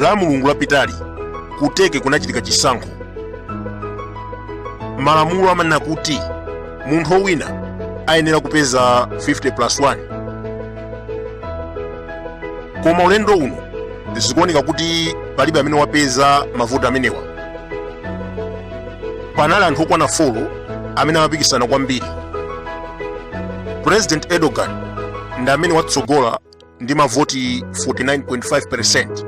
Lamulungu lapitali ku Turkey kunachitika chisankho malamulo amanena kuti munthu wowina ayenera kupeza 50 plus 1 koma ulendo uno zikuoneka kuti palibe amene wapeza mavoti amenewa panali anthu okwana 4 amene amapikisana kwambiri president erdogan ndi amene watsogola ndi mavoti 49.5%.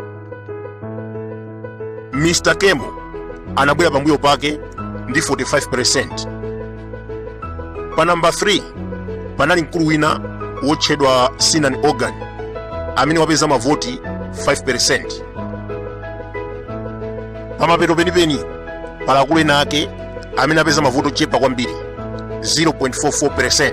Mr. Kemal anabwera pambuyo pake ndi 45%. Pa namba 3 panali mkulu wina wotchedwa Sinan Ogan amene wapeza mavoti 5%. Pamapeto penipeni pali akulu enaake amene apeza mavoti ochepa kwambiri 0.44%.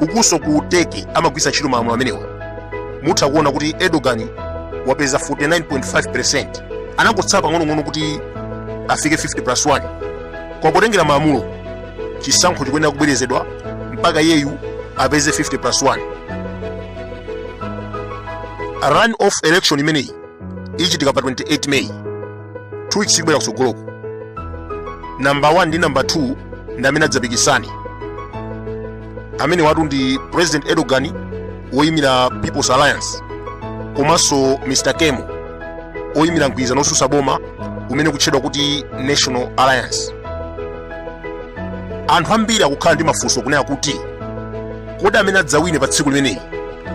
ukunso ku turkey amagwiritsa ntchito malamulo amenewa mutha kuona kuti erdogan wapeza 49.5% anangotsala pang'onong'ono kuti afike 50 plus 1 ndiye potengera malamulo chisankho chikuyenera kubwerezedwa mpaka iyeyu apeze 50 plus 1 run off election imeneyi ichitika pa 28 may 2 weeks ikubwera kutsogoloku namba 1 ndi namba 2 ndi amene adzapikisane amenewatu ndi president erdogan woyimira people's alliance komanso mr kemal woyimira mgwirizano wotsutsa boma umene ukutchedwa kuti national alliance anthu ambiri akukhala ndi mafunso kunena kuti kodi amene adzawine pa tsiku limeneli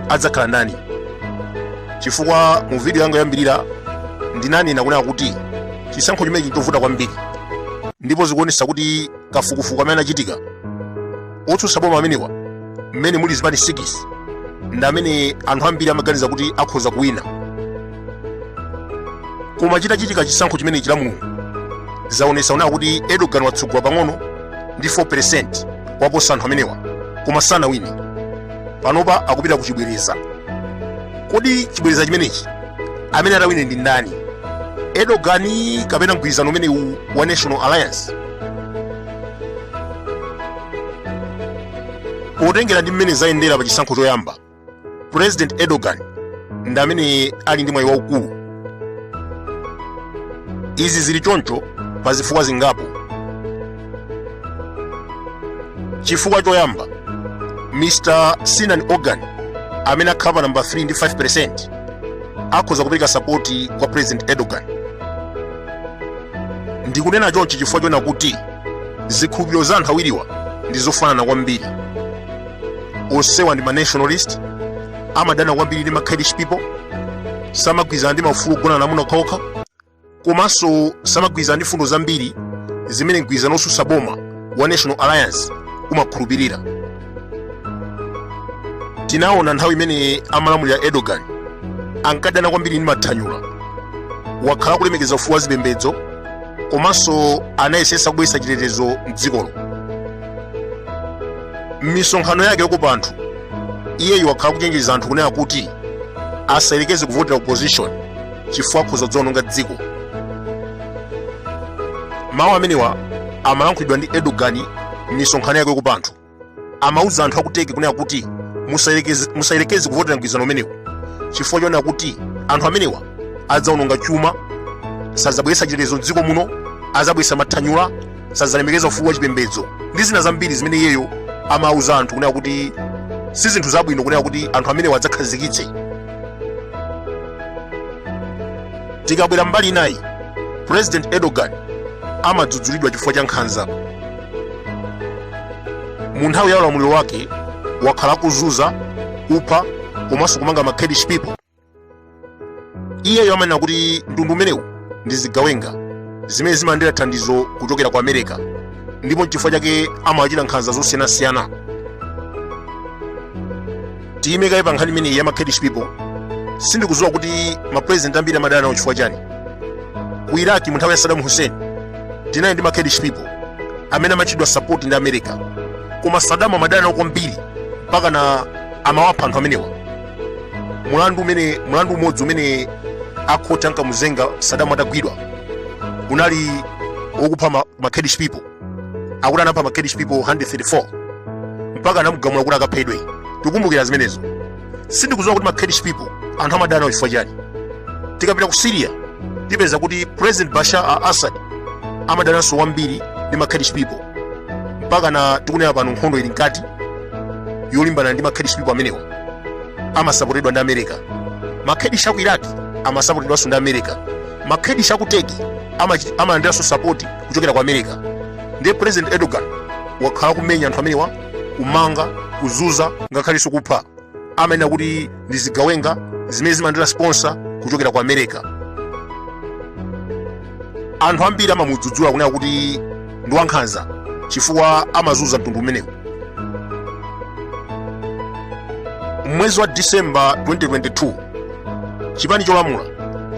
adzakhala ndani chifukwa mu video yanga yoyambirira ndinanena kunena kuti chisankho chimenechi nchovuta kwambiri ndipo zikuonesa kuti kafukufuku amene anachitika otsutsa boma amenewa mmene muli zipani 6 ndi amene anthu ambiri amaganiza kuti akhoza kuwina koma chitachitika chisankho chimenechi Lamulungu zaonesa kunena kuti erdogan watsogola pang'ono ndi 4% waposa anthu amenewa koma sanawine panopa akupita ku chibwereza kodi chibwereza chimenechi amene atawine ndi ndani erdogan kapena mgwirizano umenewu wa national alliance potengera ndi mmene zayendera pa chisankho choyamba president erdogan ndi amene ali ndi mwayi waukulu izi zili choncho pa zifukwa zingapo chifukwa choyamba mr sinan ogan amene akhala pa namba 3 ndi 5 percent akhoza kupereka sapoti kwa president erdogan ndikunena chonchi chifukwa chonena kuti zikhulupiriro za anthu awiriwa ndi zofanana kwambiri onsewa ndi ma nationalist amadana kwambiri ndi ma kurdish people samagwirizana ndi maufulu ogonana amuna okhaokha komanso samagwirizana ndi mfundo zambiri zimene mgwirizano osusa boma wa national alliance umakhulupirira tinaona nthawi imene amalamulira erdogan ankadana kwambiri ndi mathanyula wakhala kulemekeza ufulu wa zipembedzo komanso anayesesa kubweretsa chitetezo mdzikolo m'misonkhano yake yokopa anthu iyeyu wakhala kuchenjeza anthu kunena kuti asayerekeze kuvotera opposition chifukwa akhoza kudzawononga dziko mawu amenewa amalankhulidwa ndi erdogan m'misonkhano yake yokopa anthu amauza anthu aku turkey kunena kuti "Musayerekeze- musayerekeze kuvotera mgwirizano umenewu chifukwa chonena kuti anthu amenewa adzawononga chuma sadzabweretsa chitetezo m'dziko muno adzabweretsa mathanyula sadzalemekeza ufulu wa chipembedzo ndi zina zambiri zimene iyeyo amauza anthu kunena kuti si zinthu zabwino kunena kuti anthu amenewa adzakhazikitse tikabwera mbali inayi president erdogan amadzudzulidwa chifukwa cha nkhanza mu nthawi ya ulamuliro wake wakhala akuzunza kupha komanso kumanga ma kurdish people iyeyo amanena kuti mtundu umenewu ndi zigawenga zimene zimalandira thandizo kuchokera ku america ndipo nchifukwa chake amawachita nkhanza zosiyanasiyana tiyime kaye pa nkhani imeneyi ya ma kurdish people sindikudziwa kuti ma president ambiri amadana nawo chifukwa chani ku iraq mu nthawi ya saddam hussein tinali ndi ma kurdish people amene amachitidwa support ndi america koma saddam amadana nawo kwambiri mpakana amawapha anthu amenewa mulandu umene mulandu umodzi umene akhoti ankamuzenga saddam atagwidwa unali wokupha ma, ma kurdish people akuti anapha ma kurdish people 134 mpaka anamugamula kuti akaphedwe tikukumbukira zimenezo sindikuziwa kuti ma kurdish people anthu amadana nawo chifukwa chani tikapita ku syria tipeza kuti president bashar al assad amadananso kwambiri ndi ma kurdish people mpakana tikunena pano nkhondo ili mkati yolimbana ndi ma kurdish people amenewa amasapotedwa ndi america ma kurdish aku iraq amasapotedwanso ndi america ma kurdish aku turkey amachi- amalandiranso sapoti kuchokera ku america ndiye president erdogan wakhala kumenya anthu amenewa kumanga kuzunza ngakhalenso kupha amanena kuti ndi zigawenga zimene zimalandira sponsor kuchokera ku america anthu ambiri amamudzudzula kunena kuti ndi wankhanza chifukwa amazunza mtundu umenewu mwezi wa disemba 2022 chipani cholamula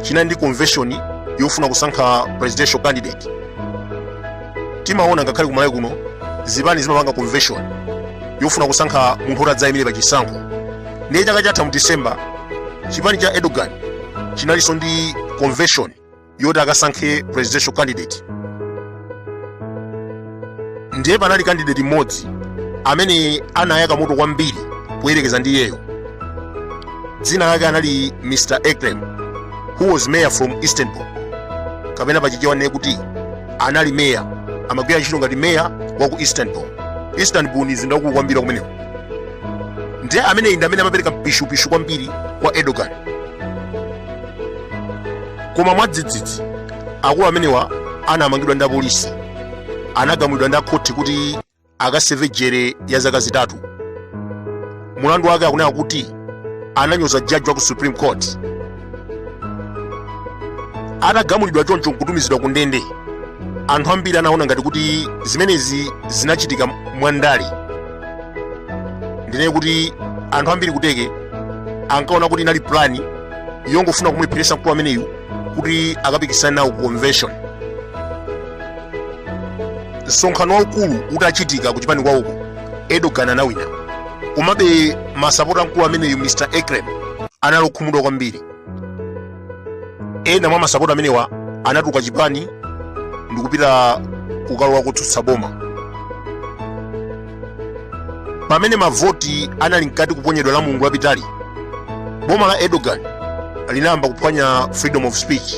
chinali ndi convention yofuna kusankha presidential candidate timaona ngakhale ku malawi kuno zipani zimapanga convention yofuna kusankha munthu oti adzayimire pa chisankho ndiye chaka chatha mu december chipani cha erdogan chinalinso ndi convention yoti akasankhe presidential candidate ndiye panali candidate mmodzi amene anayaka moto kwambiri poyerekeza ndi iyeyo dzina lake anali mr ekrem who was mayor from istanbul kapena pachichewa ndiye kuti anali meya amagwira ntchito ngati meya wa ku istanbul istanbul ndi mzinda waukulu kwambiri kumeneko ndiye ameneyi ndi amene amapereka mpishupishu kwambiri kwa erdogan koma mwadzidzidzi akulu amenewa anamangidwa ndi apolisi anagamulidwa ndi akhoti kuti akaseve jere ya zaka zitatu mulandu wake akunena kuti ananyoza jaji wa ku supreme court atagamulidwa choncho nkutumizidwa ku ndende anthu ambiri anaona ngati kuti zimenezi zinachitika mwandale ndinene kuti anthu ambiri ku turkey ankaona kuti inali plani yongofuna kumulepheretsa mkulu ameneyu kuti asakapikisane nawo ku convention msonkhano waukulu utachitika ku chipani kwawoko erdogan anawina komabe masapota a mkulu ameneyu mr ekrem anali okhumudwa kwambiri ena mwa masapota amenewa anatuluka chipani ndikupita kukalowa kotsutsa boma pamene mavoti anali mkati kuponyedwa lamulungu lapitali boma la erdogan linayamba kuphwanya freedom of speech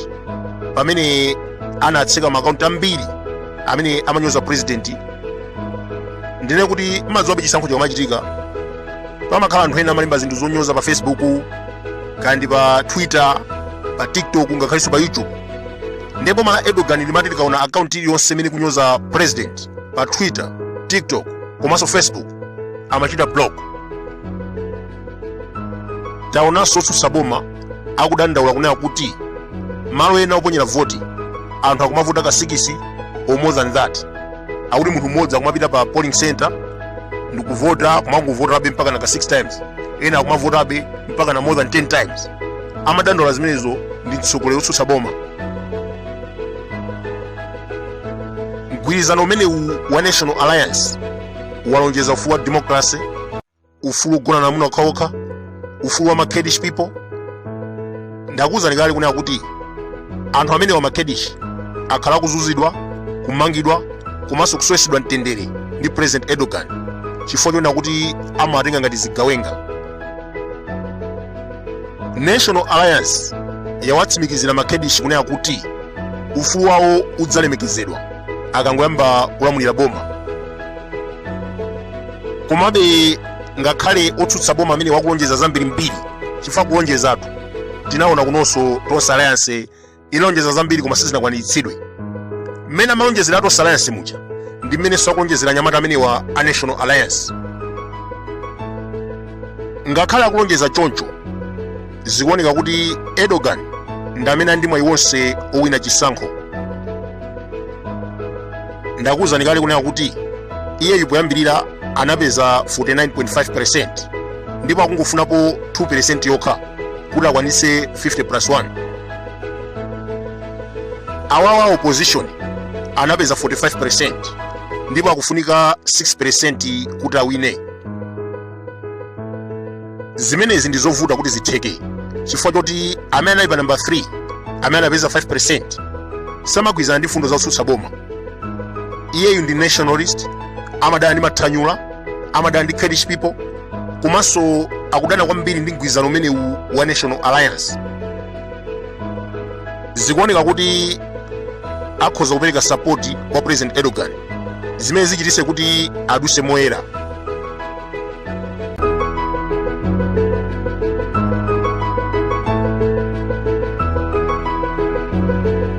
pamene anatseka maakaunti ambiri amene amanyoza purezidenti ndinene kuti mumadziwabe chisankho chikamachitika pamakhala anthu ena amalemba zinthu zonyoza pa facebook kaya ndi pa twitter pa tiktok ngakhalenso pa youtube ndiye boma la erdogan limati likaona akaunti iliyonse imene ikunyoza president pa twitter tiktok komanso facebook amachita block taonanso otsutsa boma akudandaula kunena kuti malo ena oponyera voti anthu akumavota ka sikisi or more than that akuti munthu mmodzi akumapita pa polling center ndikuvota kumangovotabe mpakana ka 6 times ena akumavotabe mpakana more than 10 times amadandaula zimenezo ndi mtsogoleri wotsutsa boma mgwirizano umenewu wa national alliance walonjeza ufulu wa democracy ufulu wogona namuna okhaokha ufulu wa ma Kurdish people ndakuwuzani kale kunena kuti anthu amenewa ma Kurdish akhala akuzunzidwa kumangidwa komanso kusowetsedwa mtendere ndi president erdogan chifukwa chonena kuti amawatenga ngati zigawenga national alliance yawatsimikizira ma Kurdish kunena kuti ufulu wawo udzalemekezedwa akangoyamba kulamulira boma komabe ngakhale otsutsa boma amenewa akulonjeza zambirimbiri chifukwa kulonjezatu tinaona kunonso tonse alliance inalonjeza zambiri koma sizinakwaniritsidwe mmene amalonjezera a tonse alliance muja ndi mmenenso akulonjezera anyamata amenewa a national alliance ngakhale akulonjeza choncho zikuoneka kuti erdogan ndi amene ali ndi mwayi wonse owina chisankho ndakuwuzani kale kunena kuti iyeyu poyambirira anapeza 49.5% ndipo akungofunapo 2% yokha kuti akwanitse 50 plus 1 awawa a opposition anapeza 45% ndipo akufunika 6% kuti awine zimenezi ndi zovuta kuti zitheke chifukwa choti amene anali pa namba 3 amene anapeza 5% samagwirizana ndi mfundo za kutsutsa boma iyeyu ndi nationalist amadana ndi mathanyula amadana ndi kurdish people komanso akudana kwambiri ndi mgwirizano umenewu wa national alliance zikuoneka kuti akhoza kupereka sapoti kwa president erdogan zimene zichititse kuti aduse moyera